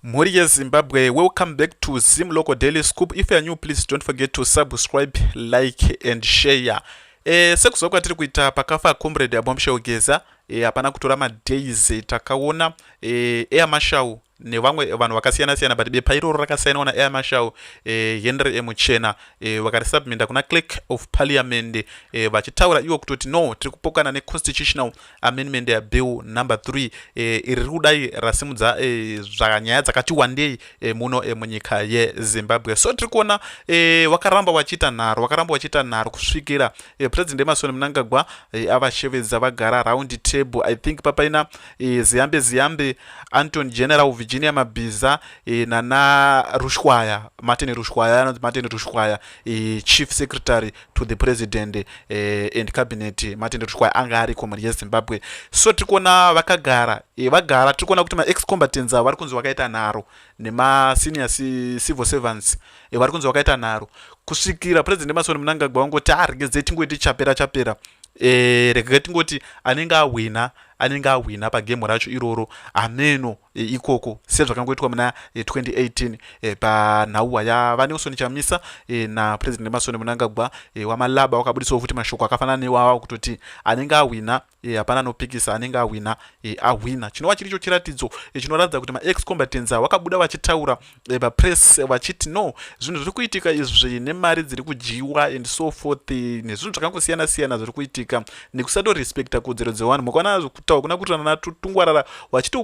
Mhuri yeZimbabwe, welcome back to Zim Local Daily Scoop. If you are new, please don't forget to subscribe, like and share. Eh, sekuziva kwatiri kuita pakafa comrade Abomshel Geza, eh, hapana kutora madays eh, takaona eh, Air Marshal nevamwe vanhu vakasiyana siyana but bepa iroro rakasainwa naAir Marshal eh, Henry Emuchena eh, vakarisubminda kuna clerk of parliament eh, vachitaura iwo kutoti no tiri kupokana neconstitutional amendment yabill number 3 eh, iri riri kudai rasimudza eh, zvanyaya dzakati wandei eh, muno eh, munyika yezimbabwe so tiri kuona eh, wakaramba wachiita nharo wakaramba wachiita nharo kusvikira eh, president emasoni munangagwa eh, avashevedza vagara round table i think papaina eh, ziyambe ziyambe anton general virginia mabhiza eh, nana rushwaya martin rushwaya anonzi martin rushwaya eh, chief secretary to the president eh, and cabinet matendero tikuwa anga ari community yezimbabwe so tiri kuona vakagara eh, vagara tiri kuona kuti maex combatants avo vari kunzi vakaita nharo nemasenior civil servants eh, vari kunzi vakaita nharo kusvikira president emasoni munangagwa vangoti aregedzei ah, tingoiti chapera chapera eh, regai tingoti anenge ahwina anenge ahwina pagemu racho iroro hameno e, ikoko sezvakangoitwa muna 2018 e, e, panhauwa yavanelson chamisa napresident emasoni munangagwa wamalaba wakabudisawo futi mashoko akafanana neiwawa kutoti anenge ahwina hapana anopikisa anenge ahwina ahwina chinova chiri cho chiratidzo chinoratidza kuti maexcombatens a wakabuda vachitaura eh, vapress vachiti no zvinhu zviri kuitika izvi nemari dziri kudyiwa and so forth nezvinhu zvakangosiyana siyana zviri kuitika nekusatorespecta kodzero dzevanhu mukwana kutaura kuna kutirana natutungwarara vachiti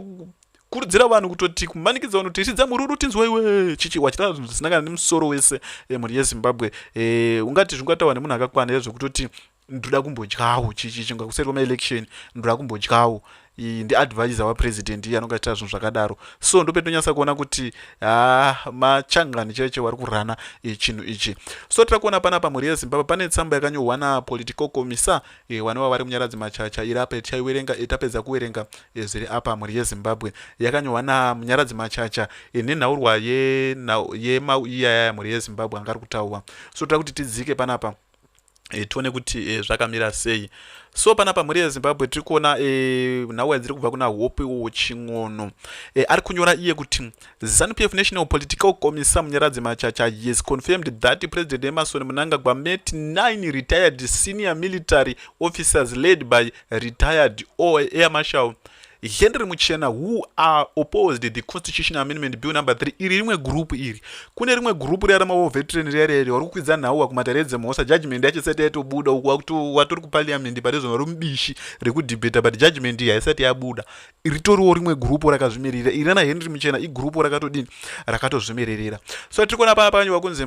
kurudzira vanhu kutoti kumanikidza vanhu tichidza mururu tinzwa iwe chichi wachitaura zvinhu zvisina kana nemusoro wese eh, mhuri yezimbabwe eh, ungati zvingataura nemunhu akakwana ezvekutoti ndoda kumbodyawo chichinga kuseri kwemaelection ndoda kumbodyawo ndiadvisor wapresident iye anonga achita zvinhu zvakadaro so ndopetonyasa kuona kuti ha machangani chaivo chaivo vari kurana e, chinhu ichi so tira kuona pana pamhuri yezimbabwe pane tsamba yakanyorwa napolitical commissar e, wane wavari munyaradzi machacha iri apa yetichaiwerenga e, tapedza kuwerenga e, zviri apa mhuri yezimbabwe yakanyorwa namunyaradzi machacha e, nenhaurwa yemauiyaya ye, mhuri yezimbabwe anga ari kutaurwa so tira kuti tidzike panapa e, tione kuti e, zvakamira sei so panapa mhuri yezimbabwe tiri kuona e, nhau yadziri kubva kuna hope wo chin'ono e, ari kunyora iye kuti zanup f national political commissar munyaradzi machacha yes confirmed that president emerson munangagwa met 9 retired senior military officers led by retired oair marshal Henry Muchena who are opposed the constitutional amendment bill number 3 iri rimwe group iri kune rimwe group riya ramawo veteran riya riya vari kukwidza nhau wakumatare edzemhosva judgment yacho isati yaitobuda uku watori kuparliament parizvona ri mubishi rekudebata but judgment iyi haisati yabuda ritoriwo rimwe group rakazvimirira iri rana Henry Muchena igroup rakatodini rakatozvimirira so tiri kuona paya panyu vakunzi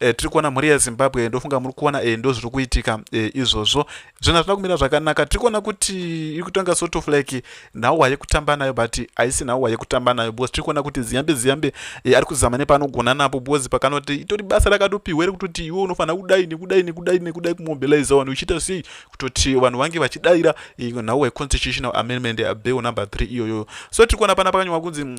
e, tiri kuona mhuri yezimbabwe ndofunga muri kuona e, ndozviri kuitika e, izvozvo zvinhu hazvina kumira zvakanaka tiri kuona kuti iri kutanga sort of like nhauwa yekutamba nayo but haisi nhauwa yekutamba nayo because tiri kuona kuti ziyambe ziyambe e, ari kuzama nepaanogona napo because pakanoti itori basa rakatopihwa iri kutoti iwe unofanira kudai nekudai nekudai nekudai kumobiliza vanhu uchiita sei kutoti vanhu vange vachidaira e, nhauwa yeconstitutional amendment bill number three iyoyoyo so tiri kuona pana pakanyorwa kunzi mm,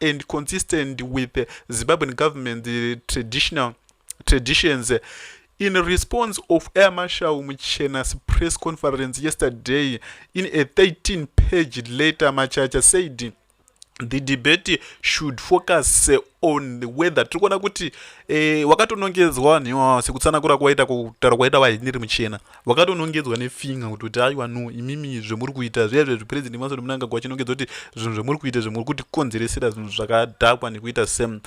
and consistent with the Zimbabwean government the traditional traditions. In response of Air Marshal Muchena's press conference yesterday, in a 13-page letter, Machacha said the debate should focus on whether tiri kuona kuti eh, wakatonongedzwa nhewa sekutsanangura kwaita kutaura kwaita vaheniri muchena vakatonongedzwa nefinga kuti kuti aiwa no imimi zvemuri kuita zviya zviya zvipurezidendi masoto munanga kwachinongedza kuti zvinhu zvemuri kuita zvimuri kuti konzeresera zvinhu zvakadhakwa nekuita same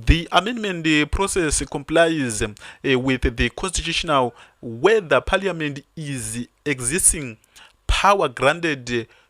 the amendment process complies uh, with the constitutional whether parliament is existing power granted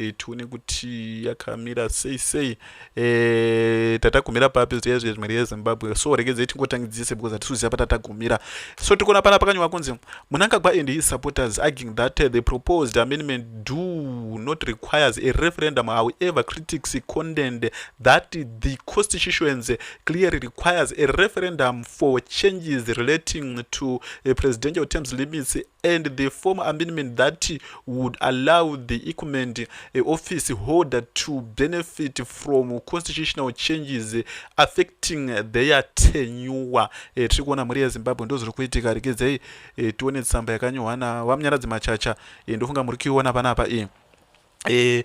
e, tione kuti yakamira sei sei e, tatagumira papi zviya zviya zvimwe rezimbabwe so regedzei tingotangidzise because hatisuziva patatagumira so tikuona pana pakanywa kunzi munangagwa and his supporters arguing that eh, the proposed amendment do not requires a referendum however critics condemned that the constitutions clearly requires a referendum for changes relating to a eh, presidential terms limits and the form amendment that would allow the equipment eh, office holder to benefit from constitutional changes affecting their tenure eh, tiri kuona mhuri yezimbabwe ndozviri kuitika regedzai eh, tione tsamba yakanyohwa navamnyaradzi machacha ndofunga muri kuiona panapa iyi eh,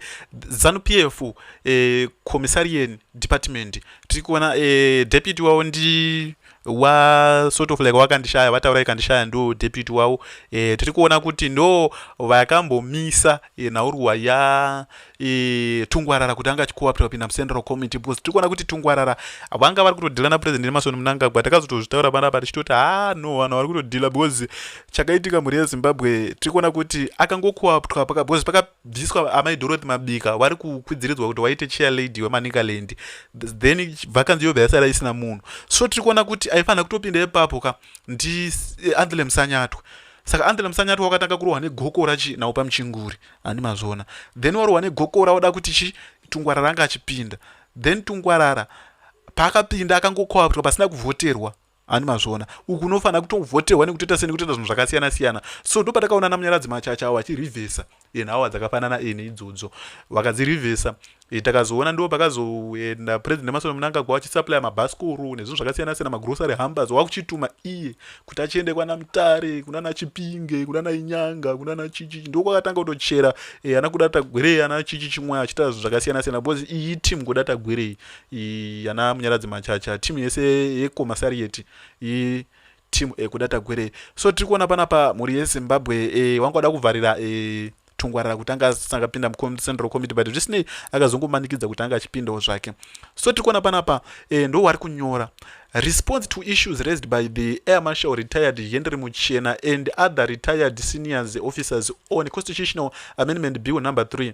zanu p f eh, commissarian department tiri kuona eh, deputy wavo ndi wa sort of like wakandishaya vataura ikandishaya ndo deputy wavo eh, tiri kuona kuti ndo vakambomisa eh, nhaurwa ya eh, tungwarara kuti anga achikuwapira kupinda mucentral committee because tiri kuona kuti tungwarara vanga vari kutodhila napresident emarson mnangagwa takazotozvitaura panapa tichitoti ha ah, no vanhu vari kutodhila because chakaitika mhuri yezimbabwe tiri kuona kuti akangokuapwa because pakabviswa amai dorothy mabika vari kukwidziridzwa kuti waite chair lady wemanicaland then vakanzi yobva yasara isina munhu so tiri kuona kuti aifanira kutopinda ipapo ka ndi eh, andhele musanyatwa saka andhele musanyatwa wakatanga kurohwa negokora chi nawo pamuchinguri handi mazvona then warohwa negokora wada kuti chi tungwarara anga achipinda then tungwarara paakapinda akangokoapwa pasina kuvhoterwa ani mazviona uku unofanira kutovhoterwa nekutoita sei nekutoita zvinhu zvakasiyana siyana so ndopatakaona ana munyaradzi machacha awo achirivhesa enhawa dzakafanana ene idzodzo vakadzirivhesa e, takazoona ndo pakazoenda president emasono munangagwa vachisuplya mabhasikoro nezvinhu zvakasiyana siyana magrosary hambers wakuchituma iye kuti achiende kwana mutare kunana chipinge kunana inyanga kunana chichi ndokwakatanga kutochera e, ana kudatagwerei ana chichi chimwe achitaura zvinhu zvakasiyana siyana because iyi team kudatagwerei yana munyaradzi machacha team yese yekomasariet i team ekuda tagwere so tiri kuona panapa mhuri yezimbabwe e, wanga wada kuvharira e, tungwarira kuti anga asangapinda mucentral committee but zvisinei akazongomanikidza kuti anga achipindawo zvake so tiri kuona panapa e, ndo wari kunyora response to issues raised by the air marshal retired henry muchena and other retired seniors officers on constitutional amendment bill number 3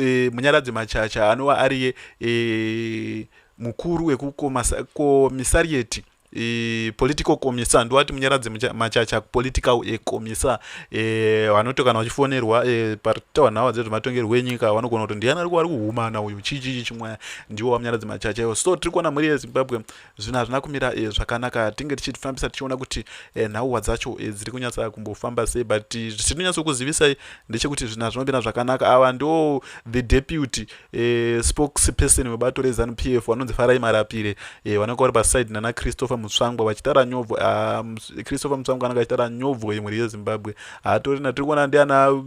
e, munyaradzi machacha anova ariye e, mukuru wekukomisarieti e, political commissar ndowati munyaradzi machacha political e, commissar e, vanoti e, kana vachifonerwa e, paritawa nhawa dzezvematongerwo enyika vanogona kuti ndiyani ari kuhumana uyu chii chii chimwaya ndiwo vamunyaradzi machacha iwo so tiri kuona mhuri yezimbabwe zvinhu hazvina kumira e, zvakanaka tinge tichifambisa tichiona kuti e, nhauwa dzacho e, dziri kunyatsa kumbofamba sei but zvisiri kunyatsokuzivisai ndechekuti zvinhu hazvina kumira zvakanaka ava ndo the deputy e, spokes person webato rezanu p f vanonzi farai marapire e, vanonga vari paside nana christopher mutsvangwa vachitara nyobvo ah, christopher mutsvangwa anonga achitara nyobvo yemhuri yezimbabwe hatorina tiri kuona ndiana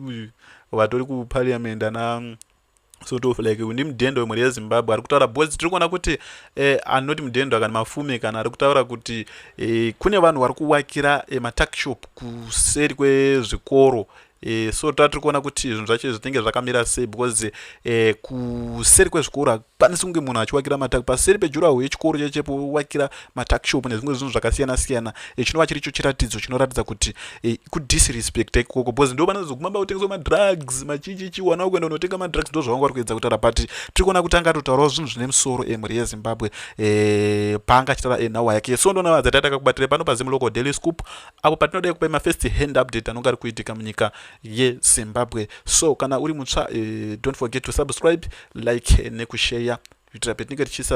vatori kupariamend ana sort of like ndi mudhendo wemhuri yezimbabwe ari kutaura because tiri kuona kuti eh, anoti mudhendo kana mafume kana ari kutaura kuti eh, kune vanhu vari kuvakira eh, matakshop kuseri kwezvikoro eh, so tatiri kuona kuti zvinhu zvacho zvinenge zvakamira sei because eh, kuseri kwezvikoro hakukwanisi kunge munhu achiwakira matak paseri pejuraho yechikoro chechepo wakira matakshop nezvimwe zvinhu zvakasiyana siyana e, chinova chiricho chiratidzo chinoratidza kuti e, eh, kudisrespecta ikoko bcause ndo vanozoguma ba kutengeswa madrugs machichichi wana ukuenda unotenga madrugs ndo zvavanga vari kuedza kutaura but tiri kuona kuti anga atotaurawo zvinhu zvine musoro emhuri eh, yezimbabwe e, paanga achitaura enhawa yake so ndona vadzati atakakubatira pano pazimu local daily scoop apo patinoda kupa mafirst hand update anonga ari kuitika munyika yezimbabwe so kana uri mutsva e, don't forget to subscribe like nekusheya kuitira petinenge tichiisa